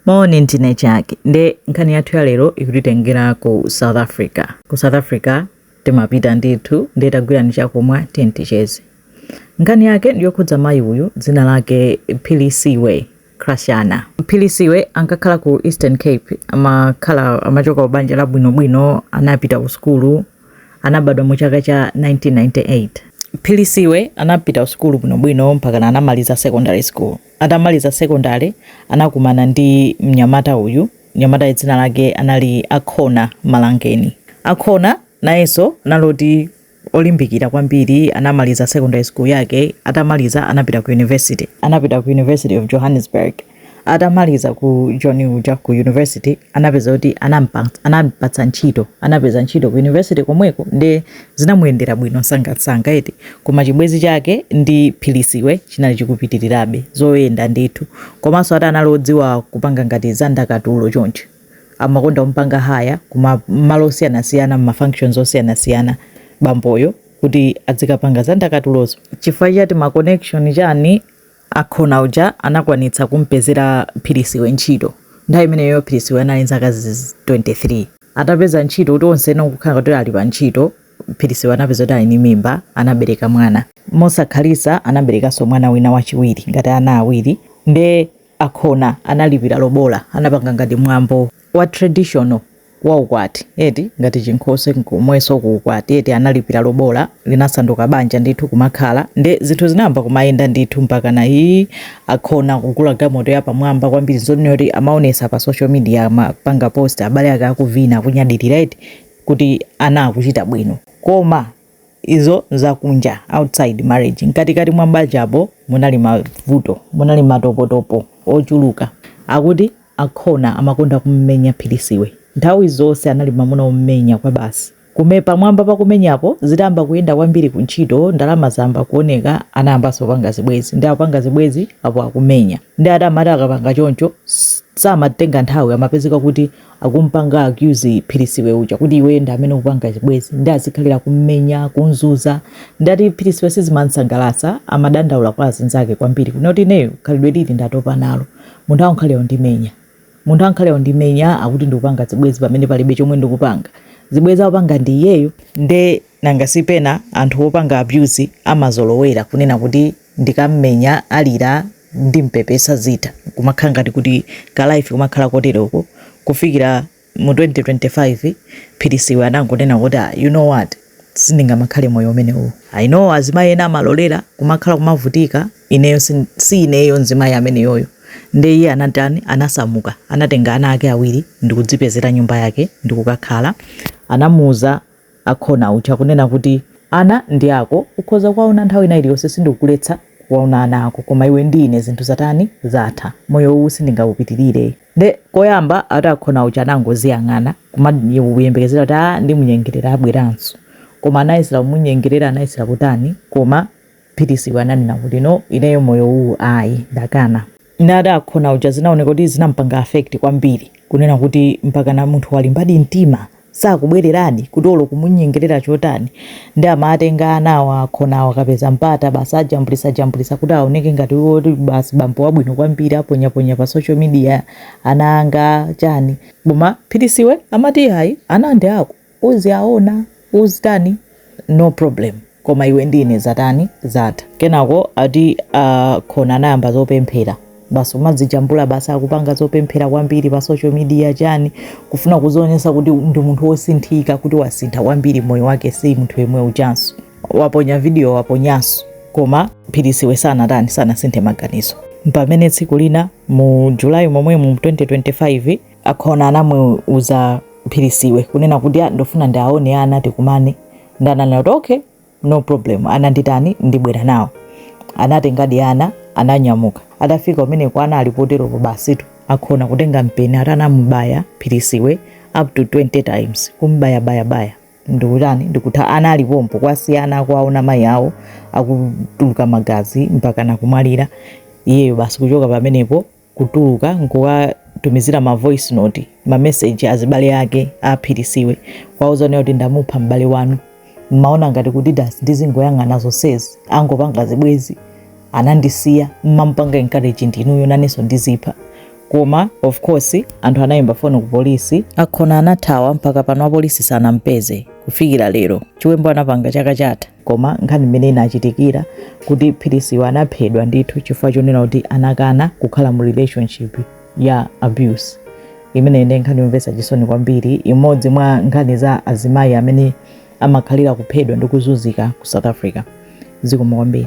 Moni ndine Jack nde nkhani yathu ya lero ikutitengera ku South Africa. Ku South Africa timapita ndithu nde tagwirani chakumwa tiyeni ticheze. Nkhani yake ndi yokhudza mayi uyu dzina lake Philisiwe Krashana. Philisiwe ankakhala ku Eastern Cape amakhala amachoka ku banja labwinobwino anapita ku sukulu anabadwa mu chaka cha 1998. Philisiwe anapita ku sukulu bwinobwino mpakana anamaliza secondary school. Atamaliza sekondale anakumana ndi mnyamata uyu. Mnyamatayu dzina lake anali Akhona Malangeni. Akhona nayenso anali oti olimbikira kwambiri, anamaliza secondary school yake. Atamaliza anapita ku university, anapita ku University of Johannesburg. Atamaliza ku Joni uja ku university anapeza kuti anampatsa ntchito, anapeza ntchito ku university komweko nde Zinamuyendera bwino nsangansanga eti koma chibwezi chake ndi philisiwe chinali chikupitilirabe zoyenda ndithu komanso ati anali odziwa kupanga ngati za ndakatulo chonchi amakonda kumupanga hire kuma malo osiyanasiyana mma functions osiyanasiyana bamboyo kuti adzikapanga za ndakatulozo chifukwa chati ma connection chani Akhona uja anakwanitsa kumpezera Philisiwe ntchito. Nthawi imeneyo Philisiwe anali nzaka 23. Atapeza ntchito kuti onse nkukhala kuti ali pa ntchito, Philisiwe anapeza kuti ali ndi mimba, anabereka mwana. Mosakhalitsa anaberekanso mwana wina wachiwiri ngati ana awiri. Nde Akhona analipira lobola, anapanga ngati mwambo wa traditional. wa ukwati eti ngati chinkhoswe komwenso ku ukwati eti analipira lobola linasanduka banja ndithu kumakhala nde zinthu zinayamba kumayenda ndithu mpakana ii akhona kugula galimoto ya pamwamba kwambiri zonena kuti amaonesa pa social media amapanga post abale ake akuvina akunyadilira eti kuti ana akuchita bwino koma izo nzakunja outside marriage mkatikati mwa banjapo munali mavuto munali matopotopo ochuluka akuti akhona amakonda kummenya philisiwe nthawi zonse anali mamuna ommenya kwabasi komwe pamwamba pa kumenyapo zitayamba kuyenda kwambiri ku ntchito ndalama zayamba kuoneka anayambanso kupanga zibwezi nde akupanga zibwezi apo akumenya nde ati amati akapanga choncho samatenga nthawi amapezeka kuti akumpanga accuse philisiwe uja kuti iweyo ndi amene ukupanga zibwezi nde azikhalira kummenya kunzuza nde ati philisiwe sizimansangalatsa amadandaula kwa azinzake kwambiri kunena kuti ineyo khalidwe ili ndatopa nalo munthu angokhalira ndimenya munthu angokhalira ndimenya akuti ndikupanga zibwezi pamene palibe chomwe ndikupanga zibwezi akupanga ndi iyeyo nde nanga sipena anthu opanga abuse amazolowera kunena kuti ndikammenya alira ndimpepesa zitha nkumakhala ngati kuti ka life kumakhala koteroko kufikira mu 2025 Philisiwe anangonena kuti ah, you know what sindingamakhale moyo umenewu i know azimayi ena amalolera kumakhala kumavutika ineyo sin- si ineyo mzimayi ameneyoyo nde iye anatani anasamuka anatenga ana ake awiri ndikukadzipezera nyumba yake ndikukakhala anamuuza Akhona uja kunena kuti, Ana ndi ako, ukhoza kuwaona nthawi ina iliyonse sindikukuletsa kuwaona ana ako koma iwe ndi ine zinthu zatani, zatha. Moyo uwu sindingaupitirire. Nde koyamba ati Akhona uja anangoziyang'ana kuyembekezera kuti aah ndimunyengerera abweranso. Koma anayesera kumunyengerera anayesera kutani koma Philisiwe ananena kuti no ineyo moyo uwu ayi ndakana. Nde ati akhona uja zinaoneka kuti zinampanga affect kwambiri kunena kuti mpakana munthu walimbadi mtima sakubwereradi kuti olo kumunyengerera chotani nde amatenga anawa akhonawa akapeza mpata basi ajambulisa jambulisa kuti aoneke ngati woti basi bambo wabwino kwambiri aponyaponya pa social media ana anga chani koma philisiwe amati ayi ana ndi ako uziaona uzitani no problem koma iwe ndi ine zatani zatha kenako ati akhona anayamba zopemphera basi kumadzijambula basi akupanga zopemphera kwambiri pa social media chani kufuna kuzionesa kuti ndi munthu wosinthika kuti wasintha kwambiri moyo wake si munthu yemwe ujanso waponya video waponyanso koma philisiwe sanatani sanasinthe maganizo pamene tsiku lina mu julayi momwemu mu 2025 Akhona anamuuza Philisiwe kunena kuti "Ah, ndofuna ndiaone ana tikumane nde ananena kuti okay no problem ana nditani ndibwera nawo anatengadi ana ananyamuka atafika kumeneko ana ali poteropo basitu akhona kutenga mpeni ati anamubaya Philisiwe up to 20 times kumbayabayabaya ndikutani ndikutha ana ali pompo kuwasiya ana akuwaona mayi awo akutuluka magazi mpakana kumwalira iyeyo basi kuchoka pamenepo kutuluka nkuwatumizira ma voice note ma message azibale ake aphirisiwe kuwauza kunena kuti ndamupha m'bale wanu mmaona ngati kuti dasi ndizingoyang'ana zonsezi akungopanga zibwezi anandisiya mmamupanga encourage ndinuyo nanenso ndidzipha koma of course anthu anayimba foni ku polisi akhona anathawa mpaka pano apolisi sanampeze kufikira lero chiwembu anapanga chaka chatha Koma nkhani imene inachitikira kuti philisiwe anaphedwa ndithu chifukwa chonena kuti anakana kukhala mu relationship ya abuse imeneyi ndi nkhani yomvetsa chisoni kwambiri imodzi mwa nkhani za azimayi amene amakhalira kuphedwa ndi kuzunzika ku south africa zikomo kwambiri